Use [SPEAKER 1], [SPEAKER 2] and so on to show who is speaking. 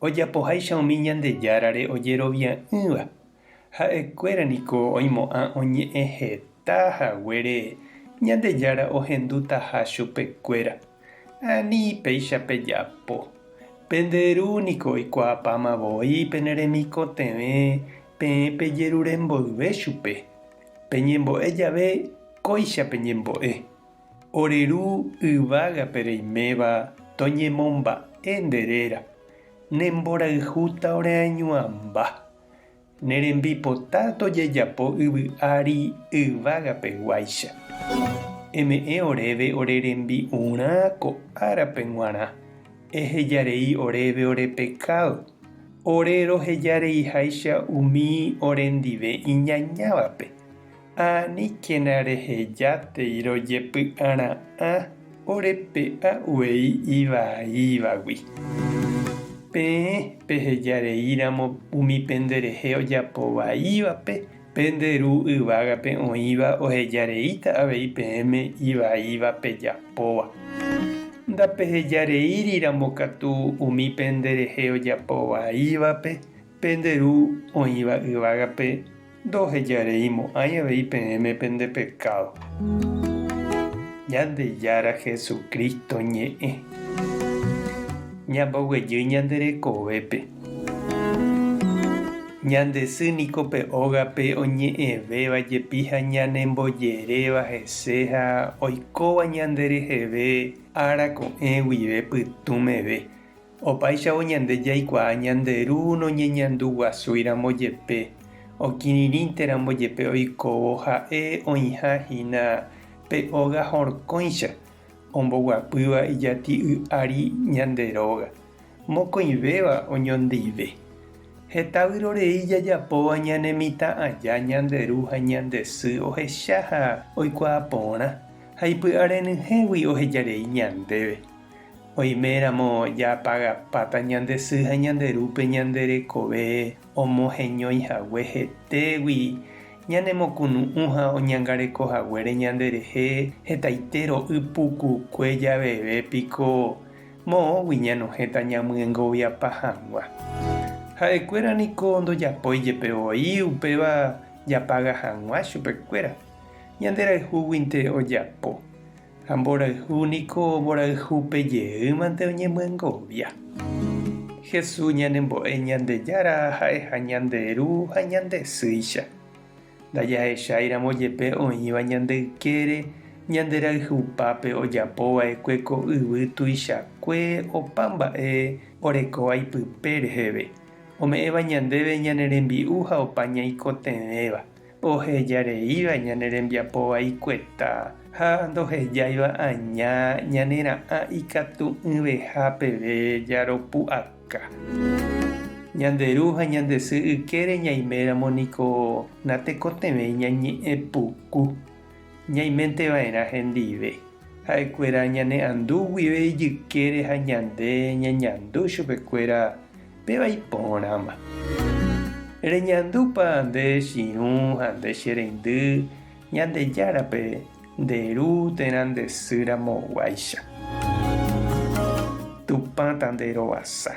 [SPEAKER 1] Ojapoháicha umi Ñandejárare ojerovia'ỹva, ha'ekuéra niko oimo'ã oñe'ẽ heta haguére Ñandejára ohendutaha chupekuéra. Ani péicha pejapo. Pende Ru niko oikuaapáma voi pene remikotevẽ peẽ pejerure mboyve chupe. Peñembo'e jave, kóicha peñembo'e. Ore Ru yvágape reiméva toñemomba'e nde réra, ne mborayhúta ore añuãmba. Ne rembipota tojejapo yvy ári yvága peguáicha. Eme'ẽ oréve ore rembi'urã ko árape g̃uarã, eheja rei oréve ore pekádo, ore roheja reiháicha umi orendive iñañávape. Ha aníkena rehejátei rojepy'ara'ã orepe'a uvei ivaiívagui. Peẽ peheja reíramo umi penderehe ojapo vaívape, pende Ru yvágape oĩva oheja reíta avei peẽme ivaíva pejapóva. Ndapeheja reíriramo katu umi penderehe ojapo vaívape, pende Ru oĩva yvágape. Ndohejareimo'ãi avei peẽme pende pekádo. Ñandejára Jesucristo ñe'ẽ. Ñamboguejy ñande rekovépe. Ñande sy niko pe ógape oñe'ẽvéva jepi ha ñanembojeréva hese ha oikóva ñande reheve ára ko'ẽ guive pytũ meve. Opáichavo ñande jaikuaa ñande Ru noñeñandu guasúi ramo jepe, okirirĩnte ramo jepe oikóvo Ha'e oĩha hína pe óga horkõicha, omboguapýva ijati'y ári ñande róga, mokõivéva oñondive. Heta vyrorei jajapóva ñane mitã aja ñande Ru ha ñande Sy ohecha ha oikuaa porã, ha ipy'arenyhẽgui ohejarei ñandéve. Oiméramo japagapáta ñande sy ha ñande rúpe ñande rekove omoheñói hague hetégui ñanemokunu'ũ ha oñangareko haguére ñande rehe hetaite ro'y pukukue javeve piko moõgui ñanohẽta ñamyengoviapa hag̃ua. Ha'ekuéra niko ndojapói jepe voi upéva japaga hag̃ua chupekuéra, ñanderayhúguinte ojapo. Ha mborayhu niko mborayhu pe jeýmante oñemyengovia. Jesús ñanembo'e Ñandejára ha'eha ñande Ru ha ñande Sýicha. Ndajahecháiramo jepe oĩva ñande ykére ñande rayhupápe ojapo va'ekue ko yvy tuichakue opa mba'e orekóva ipype reheve, ome'ẽva ñandéve ñane rembi'u ha opa ñaikotevẽva. ohejareíva ñane rembiapo vaikueta ha ndohejáiva aña ñanera'ã ikatu'ỹveha peve jaropu'aka. Ñande ru ha ñande sy ykére ñaiméramo niko natekotevẽi ñañe'ẽ puku. Ñaimenteva'erã hendive ha'ekuéra ñane'andu guive ijykére ha ñande ñañandu chupekuéra péva iporãma. Reñandúpa nde chiru ha nde che reindy Ñandejárape nde ru térã nde sy ramoguáicha? Tupã tanderovasa,